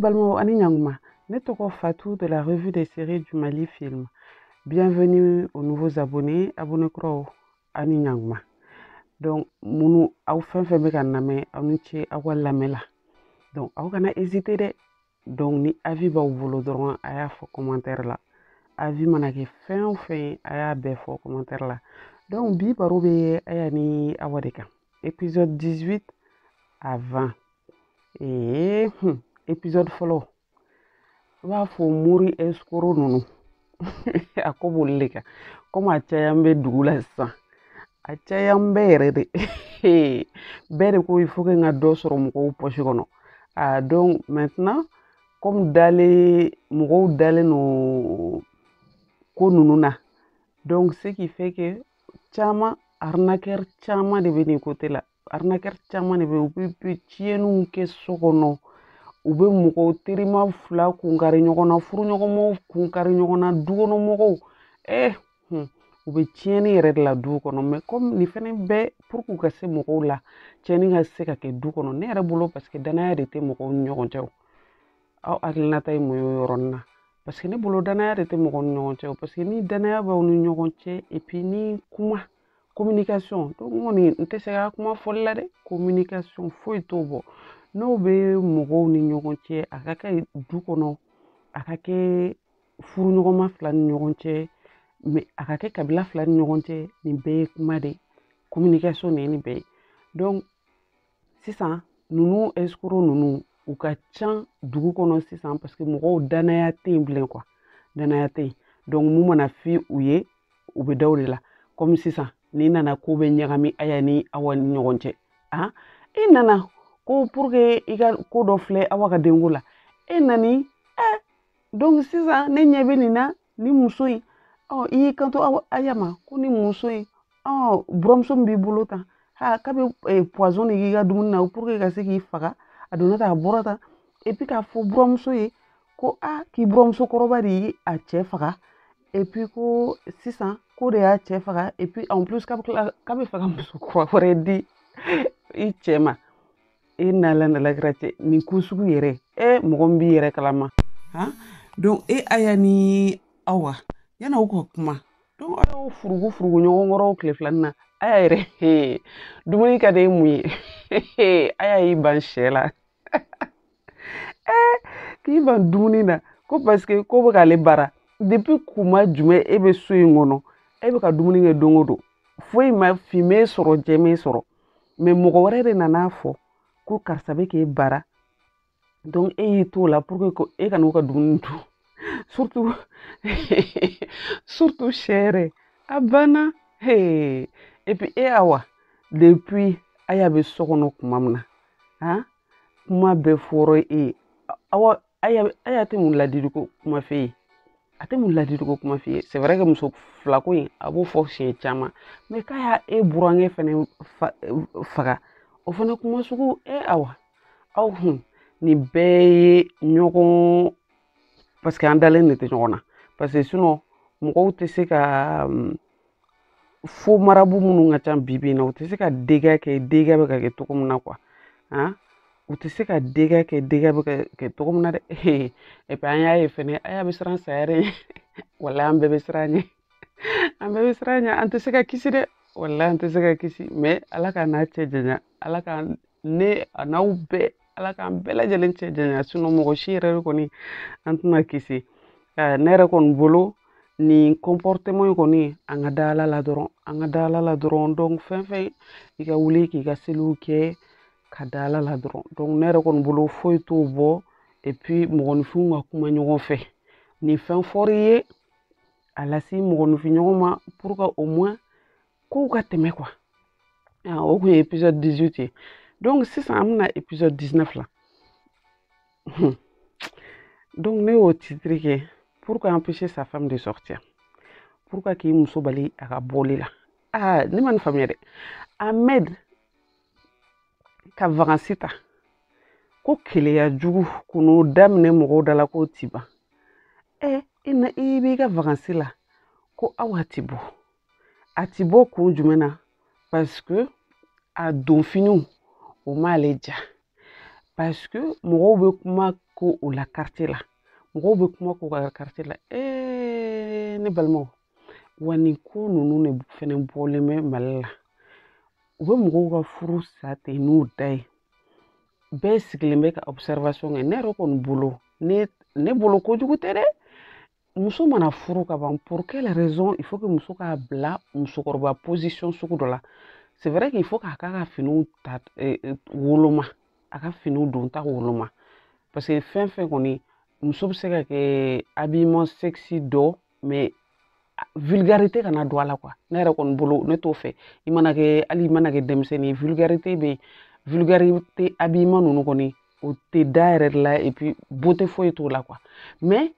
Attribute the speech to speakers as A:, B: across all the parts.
A: balimaw a ni ɲankuma ne tɔgɔ fatu de la revue des séries du mali film bienvenue aux nouveaux abonnés abonné kuraw a ni ɲankuma donc minnu aw fɛn fɛn bɛ ka n lamɛn aw ni ce aw ka lamɛn la donc aw kana hésiter dɛ donc ni avis b'aw bolo dɔrɔn a y'a fɔ commentaire la avis mana kɛ fɛn o fɛn ye a y'a bɛɛ fɔ commentaire la donc bi baro bɛ aya ni awa de kan épisode 18 à 20 ee hun épisode fɔlɔ i b'a fɔ mori escroc ninnu a ko b'olu le kan comme a cayan bɛ dugu la sisan a cayan bɛ yɛrɛ de bɛɛ de ko il faut que n ka dɔ sɔrɔ mɔgɔw poche kɔnɔ a donc maintenant comme dalen mɔgɔw dalen don ko ninnu na donc ce qui fait que caman arnaqueur caman de bɛ nin côté la arnaqueur caman de bɛ u bɛ tiɲɛniw kɛ so kɔnɔ u bɛ mɔgɔw terima fila kunkari ɲɔgɔn na furuɲɔgɔnmaw kunkari ɲɔgɔn na dukɔnɔmɔgɔw ɛ u bɛ tiɲɛni yɛrɛ de la du kɔnɔ mais comme nin fɛnɛ bɛɛ pour que u ka se mɔgɔw la tiɲɛni ka se ka kɛ du kɔnɔ ne yɛrɛ bolo parce que danaya de tɛ mɔgɔw ni ɲɔgɔn cɛ aw hakilinata ye mun ye o yɔrɔnin na parce que ne bolo danaya de tɛ mɔgɔw ni ɲɔgɔn cɛ parce que ni danaya b'aw ni ɲɔgɔn cɛ et puis ni kuma communication donc n kɔni n tɛ se ka kuma fɔli la dɛ communication foyi t'o bɔ n'o bɛ mɔgɔw ni ɲɔgɔn cɛ a ka kɛ du kɔnɔ a ka kɛ furuɲɔgɔnma fila ni ɲɔgɔn cɛ mais a ka kɛ kabila fila ni ɲɔgɔn cɛ nin bɛɛ ye kuma de ye communication de ye nin bɛɛ ye donc sisan ninnu escroc ninnu u ka can dugu kɔnɔ sisan parce que mɔgɔw danaya tɛ yen bilen quoi danaya tɛ yen donc mun mana fɔ u ye u bɛ da o de la comme sisan n'i nana ko bɛɛ ɲagami aya ni awa ni ɲɔgɔn cɛ a i nana ko pour que i ka ko dɔ filɛ awa ka denko la e nani ɛ donc sisan ne ɲɛ bɛ nin na ni muso in ɔ i y'i kanto aw aya ma ko ni muso in ɔ buramuso min b'i bolo tan ha k'a bɛ eh, poison de k'i ka dumuni na pour que ka se k'i faga a donna tan a bɔra tan et puis k'a fɔ buramuso ye ko a ah, k'i buramuso kɔrɔba de ye a cɛ faga et puis ko sisan k'o de y'a cɛ faga et puis en plus k'a bɛ tila k'a bɛ fɛ ka muso kura wɛrɛ di i cɛ ma e n'ala n'ala kira cɛ nin ko sugu yɛrɛ e mɔgɔ min b'i yɛrɛ kalama han donc e aya ni awa yani aw ka kuma donc a y'aw furugu furugu ɲɔgɔn kɔrɔ tile filanin na aya yɛrɛ dumuni ka di e mun ye aya y'i ban sɛ la eh, k'i ban dumuni na ko parce que k'o bɛ k'ale baara depuis kuma jumɛn e bɛ so in kɔnɔ e bɛ ka dumuni kɛ don o don foyi ma fin m'e sɔrɔ jɛ m'e sɔrɔ mais mɔgɔ wɛrɛ de nana fɔ ko karisa bɛ k'e baara donc e y'i t'o la pour que e kana u ka dumuni dun surtout surtout sɛ yɛrɛ a banna hey. et puis e awa depuis aya bɛ so kɔnɔ kuma min na han kuma bɛɛ fɔra e ye awa aya tɛ mun ladiliko kuma f'e ye a tɛ mun ladiliko kuma f'i ye c'est vrai que muso filako in a b'o fɔ siɲɛ caman mais k'a y'a e burankɛ fɛnɛ faga o fana kuma sugu e awa aw hun nin bɛɛ ye ɲɔgɔn parce que an dalen de tɛ ɲɔgɔn na parce que sinon mɔgɔw tɛ se ka faux marabouts minnu ka ca bibi in na u tɛ se ka dégâts kɛ dégâts bɛ ka kɛ cogo min na quoi han u tɛ se ka dégâts kɛ dégâts bɛ ka kɛ cogo min na dɛ et puis an y'a ye fɛnɛ aya bɛ siran saya dɛ wala an bɛɛ bɛ siran ɲɛ an bɛɛ bɛ siran ɲɛ an tɛ se ka kisi dɛ wala an tɛ se ka kisi mais ala k'an n'a cɛ janya ala ka ne an'aw bɛɛ ala k'an bɛɛ lajɛlen cɛ janya sinon mɔgɔ si yɛrɛ de kɔni an tɛna kisi ne yɛrɛ kɔni bolo nin comportement in kɔni an ka da ala la dɔrɔn an ka da ala la dɔrɔn donc fɛn fɛn i ka wuli k'i ka seliw kɛ ka da ala la dɔrɔn donc ne yɛrɛ kɔni bolo foyi t'o bɔ et puis mɔgɔninfinw ka kuma ɲɔgɔn fɛ ni fɛn fɔr'i ye a lase mɔgɔninfinɲɔgɔn ma pour que au moins kow ka tɛmɛ quoi ah, o kun ye épisode 18 ye donc sisan an bɛna épisode 19 la donc ne y'o titre kɛ pourquoi empêcher sa femme de sortir pourquoi k'i muso bali a ka bɔli la ah ne ma nin faamuya dɛ ahmed ka vacances ta ko keleya jugu ko n'o daminɛ mɔgɔw da la k'o ti ban ɛ i na i b'i ka vacances la ko awa ti bɔ a ti bɔ kun jumɛn na parce que a donfiniw o m'ale ja parce que mɔgɔw bɛ kuma ko o la quartier la mɔgɔw bɛ kuma ko ka quartier la ee ne balimaw wa nin ko ninnu de fɛnɛ bɔlen bɛ mali la u bɛ mɔgɔw ka furu sa ten n'u da ye bɛɛ sigilen bɛ ka observation kɛ ne yɛrɛ kɔni bolo ne ne bolo kojugu tɛ dɛ muso mana furu ka ban pour quelle raison il faut que muso k'a bila musokɔrɔba position sugu dɔ la c'est vrai qu'il faut k'a k'a ka finiw ta eh, eh, woloma a ka finiw don ta woloma parce que fɛn fɛn kɔni muso bɛ se ka kɛ habillement sexy dɔ mais vulgarité kana don a la quoi ne yɛrɛ kɔni bolo ne t'o fɛ i mana kɛ hali i mana kɛ denmisɛnnin vulgarité bɛ vulgarité habillement ninnu kɔni o tɛ da yɛrɛ de la et puis beauté foyi t'o la quoi mais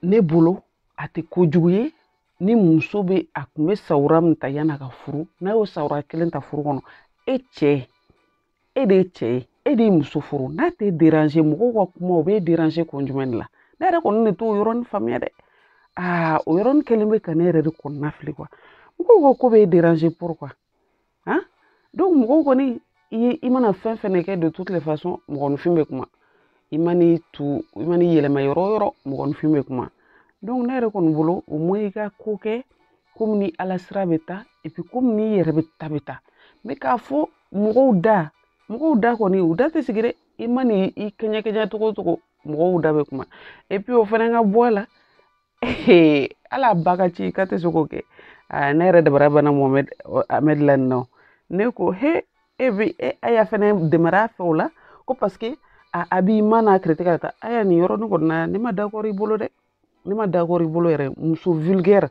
A: ne bolo a tɛ kojugu ye ni muso bɛ a kun bɛ sawura min ta yan'a ka furu n'a y'o sawura kelen ta furu kɔnɔ e cɛ e de ye cɛ ye e de ye muso furu n'a t'e déranger mɔgɔw ka kuma o b'e déranger kun jumɛn de la ne yɛrɛ kɔni de t'o yɔrɔnin faamuya dɛ aa o yɔrɔnin kelen bɛ ka ne yɛrɛ de kɔnɔna fili quoi mɔgɔw ka ko b'e déranger pourquoi han donc mɔgɔw kɔni i ye i mana fɛn fɛn kɛ de toutes les façons mɔgɔninfin bɛ kuma i man'i tu i man'i yɛlɛma yɔrɔ o yɔrɔ mɔgɔninfin bɛ kuma donc ne yɛrɛ kɔni bolo au moins i ka ko kɛ komi ni ala sira bɛ taa et puis komi n'i yɛrɛ bɛ ta bɛ taa mais k'a fɔ mɔgɔw da mɔgɔw da kɔni u da tɛ sigi dɛ i man'i i kɛɲɛ kɛɲɛ cogo o cogo mɔgɔw da bɛ kuma et puis o fana ka bɔ a la ala ba ka ci ka tɛ se k'o kɛ ne yɛrɛ dabara banna mohamed la nin na ne ko he e bɛ e aya fɛnɛ dɛmɛra fɛ o la ko parce que habillement n'a critiquer ka taa aya nin yɔrɔnin kɔni na ne ma d'accord i bolo dɛ ne ma d'accord i bolo yɛrɛ muso vulgaire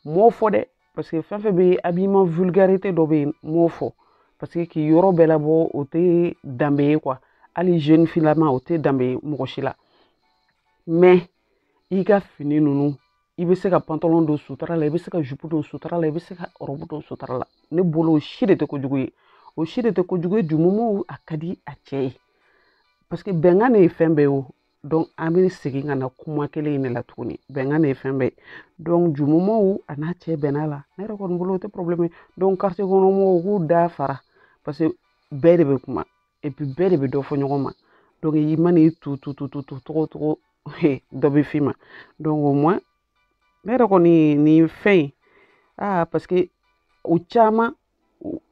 A: m'o fɔ dɛ parce que fɛn fɛn bɛ habillement vulgarité dɔ bɛ yen m'o fɔ parce que k'i yɔrɔ bɛɛ labɔ o tɛ danbe ye quoi hali jeune fille lama o tɛ danbe ye mɔgɔ si la mais i ka fini ninnu i bɛ se ka pantalon don sutura la i bɛ se ka jupu don sutura la i bɛ se ka ɔrɔbu don sutura la ne bolo o si de tɛ kojugu ye o si de tɛ kojugu ye du moment a ka di a cɛ ye parce que bɛnkan de ye fɛn bɛɛ ye o donc an bɛ segin ka na kuma kelen in de la tuguni bɛnkan de ye fɛn bɛɛ ye donc du moment a n'a cɛ bɛnna la ne yɛrɛ kɔni bolo o tɛ problème ye donc quartier kɔnɔ mɔgɔw k'u da fara parce que bɛɛ de bɛ kuma bɛɛ de bɛ dɔ fɔ ɲɔgɔn ma i mana i tu tu tu tu tu cogo cogo dɔ bɛ f'i ma au moins ne yɛrɛ kɔni nin fɛn in aa parce que o caman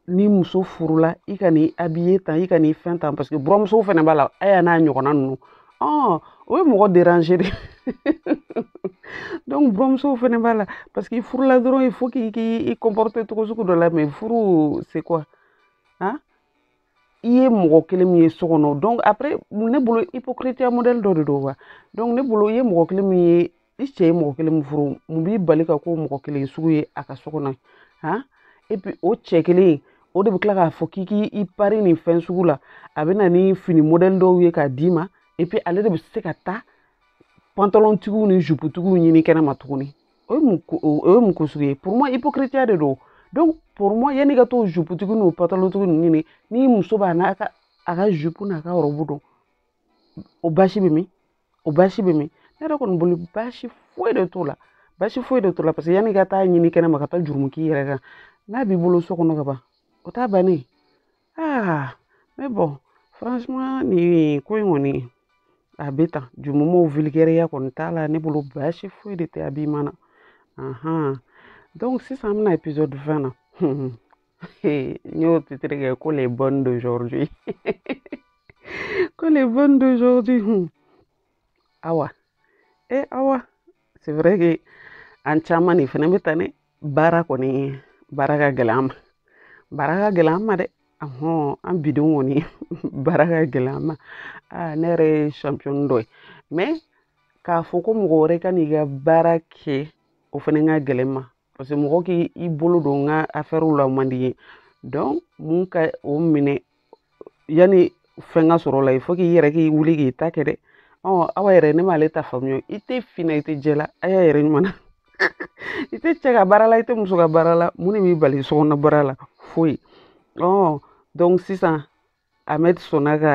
A: ni muso furula i kan'i habiller tan i kan'i fɛn tan parce que buramuso fana b'a la aya n'a ɲɔgɔnna ninnu ɔ o ye mɔgɔ déranger de donc buramusow fana b'a la parce que i furula dɔrɔn il faut k'i k'i i comporter cogo sugu dɔ la mais furu c'est quoi han i ye mɔgɔ kelen min ye so kɔnɔ donc après ne bolo hypocriteya modèle dɔ de don wa donc ne bolo i ye mɔgɔ kelen min ye i cɛ ye mɔgɔ kelen min furu mun b'i bali ka k'o mɔgɔ kelen sugu ye a ka so kɔnɔ han et puis o cɛ kelen o de bɛ tila k'a fɔ k'i k'i pari nin fɛn sugu la a bɛ na ni fini modèle dɔw ye k'a d'i ma et puis ale de bɛ se ka taa pantalontigiw ni juputigiw ɲini kɛnɛma tuguni o ye mun o ye mun ko sugu ye pour moi hypocriteya de don donc pour moi yanni ka t'o juputigi n'o pantalontigi ninnu ɲini ni muso b'a n'a ka a ka jupu n'a ka ɔrɔbu don o basi bɛ min o basi bɛ min ne yɛrɛ kɔni bolo basi foyi de t'o la basi foyi de t'o la parce que yanni ka taa ɲini kɛnɛma ka taa jurumu k'i yɛrɛ kan n'a b'i bolo so kɔnɔ ka ban o t'a bannen aa mais bon franchement nin ko in kɔni a bɛ tan du moment vulgaireya kɔni t'a la ne bolo baasi foyi de tɛ habillement na ahan donc sisan an bɛna épisode 20 na n y'o titre kɛ ko les bonnes d'aujourd'hui ko les bonnes d'aujourd'hui awa e awa c'est vrai que an caman de fana bɛ tan dɛ baara kɔni baara ka gɛlɛn an ma baara ka gɛlɛn an ma dɛ ahɔn an bidenw kɔni baara ka gɛlɛn an ma aa ne yɛrɛ ye champion dɔ ye mais k'a fɔ ko mɔgɔ wɛrɛ ka n'i ka baara kɛ o fana ka gɛlɛn n ma parce que mɔgɔ k'i bolo don n ka affaire la o man di n ye donc mun ka o minɛ yanni fɛn ka sɔrɔ la il faut k'i yɛrɛ k'i wuli k'i ta kɛ dɛ ɔ awa yɛrɛ ne m'ale ta faamuya i tɛ fin na i tɛ jɛ la aya yɛrɛ ɲuman na i tɛ cɛ ka baara la i tɛ muso ka baara la mun de b'i bali sokɔnɔ baara la foyi ɔ donc sisan ahmed sɔnna ka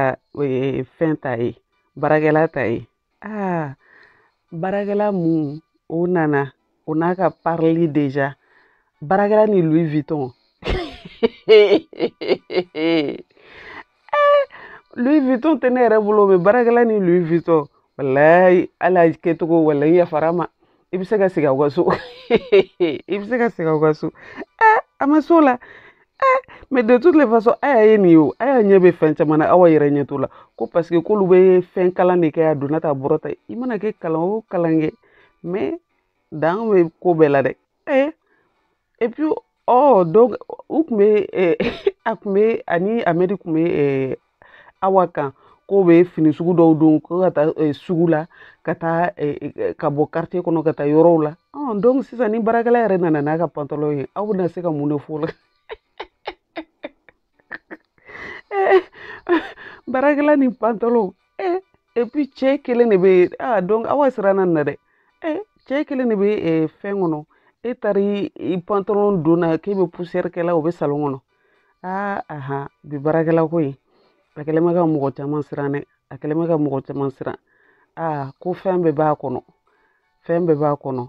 A: fɛn ta ye baarakɛla ta ye aa baarakɛla mun o nana o n'a ka parili déjà baarakɛla ni louis vuitton louis vuitton tɛ ne yɛrɛ bolo mais baarakɛla ni louis vuitton walayi ala kɛcogo walayi yafara ma i bɛ se ka segin aw ka so i bɛ se ka segin aw ka so ɛ a ma s'o la ɛ mais de toutes les façons aya ye nin ye o aya ɲɛ bɛ fɛn caman na awa yɛrɛ ɲɛ t'o la ko parce que k'olu bɛ fɛn kalan de kɛ a donna ta a bɔra ta i mana kɛ kalan o kalan kɛ mais dan bɛ ko bɛɛ la dɛ ɛ et puis oh donc u tun bɛ eh, a tun bɛ ani ahmed tun bɛ eh, awa kan k'o bɛ fini sugu dɔw don ko ka taa eh, sugu la ka taa ka bɔ quartier kɔnɔ ka taa yɔrɔw la oh, donc sisan ni baarakɛla yɛrɛ nana n'a ka pantalon ye aw bɛna se ka mun de fɔ o la eh, baarakɛla ni pantalon eh, et puis cɛ kelen de bɛ ah, donc awa siranna nin na dɛ eh, cɛ kelen de bɛ eh, fɛn kɔnɔ e taara i pantalon don na k'e bɛ poussière kɛla o bɛ salon kɔnɔ aa ah, aha bi baarakɛla ko in a kɛlen bɛ ka mɔgɔ caman siran dɛ a kɛlen bɛ ka mɔgɔ caman siran aa ah, ko fɛn bɛɛ b'a kɔnɔ fɛn bɛɛ b'a kɔnɔ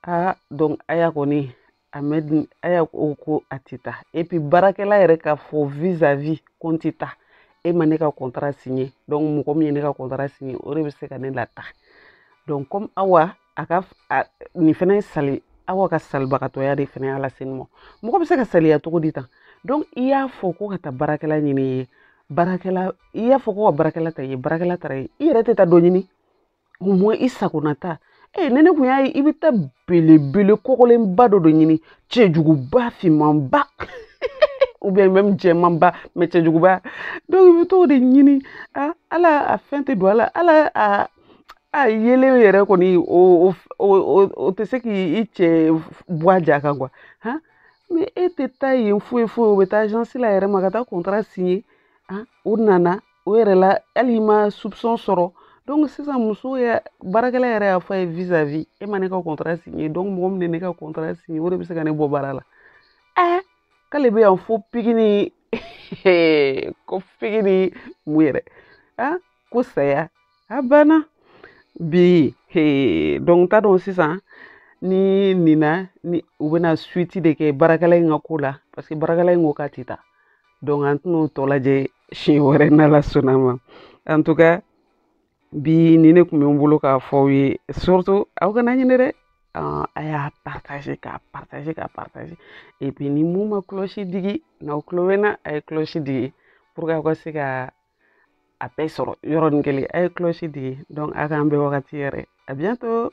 A: aa ah, donc aya kɔni ahmed aya ko ko a tɛ taa et puis baarakɛla yɛrɛ k'a fɔ vis-à-vis ko n tɛ taa e ma ne ka contrat signé donc mɔgɔ min ye ne ka contrat signé o de bɛ se ka ne lataa donc comme awa a ka nin fana ye sali awa ka salibagatɔya de fana y'a lase nin ma mɔgɔ bɛ se ka saliya cogo di tan donc i y'a fɔ ko ka taa baarakɛla ɲini ye baarakɛla i y'a fɔ ko ka baarakɛla ta ye baarakɛla taara ye i yɛrɛ tɛ taa dɔ ɲini au moins i sagona ta ee ni ne kun y'a ye i bɛ taa belebele kɔgɔlenba dɔ de ɲini cɛjuguba finmanba ou bien même jɛmanba mais cɛjuguba donc i bɛ t'o de ɲini a ala a fɛn tɛ don a la ala a a yelen yɛrɛ kɔni o o o o tɛ se k'i cɛ bɔ a ja kan quoi han mais e tɛ taa yen foyi foyi o bɛ taa agence la yɛrɛ ma ka taa contrat signer han o nana o yɛrɛ la hali i ma soupçon sɔrɔ donc sisan muso yɛ baarakɛla yɛrɛ y'a fɔ a ye vis à vis e ma ne ka contrat signé donc mɔgɔ min ye ne ka contrat signé o de bɛ se ka ne bɔ baara la ɛɛ k'ale bɛ yan fo piki ni ko piki ni mun yɛrɛ ah ko saya a banna bi donc t'a dɔn sisan ni nina ni u bɛna suite de kɛ baarakɛla in ka ko la parce que baarakɛla in ko k'a tɛ taa donc an tɛn'o tɔ lajɛ siɲɛ wɛrɛ n'ala sɔnna ma en tout cas bi nin de tun bɛ n bolo k'a fɔ aw ye surtout aw kana ɲinɛ dɛ a y'a partager k'a partager k'a partager et puis ni min ma cloche digi n'aw tulo bɛ n na a ye cloche digi pour que aw ka se ka a bɛɛ sɔrɔ yɔrɔnin kelen a ye cloche digi donc a k'an bɛn wagati wɛrɛ à bientôt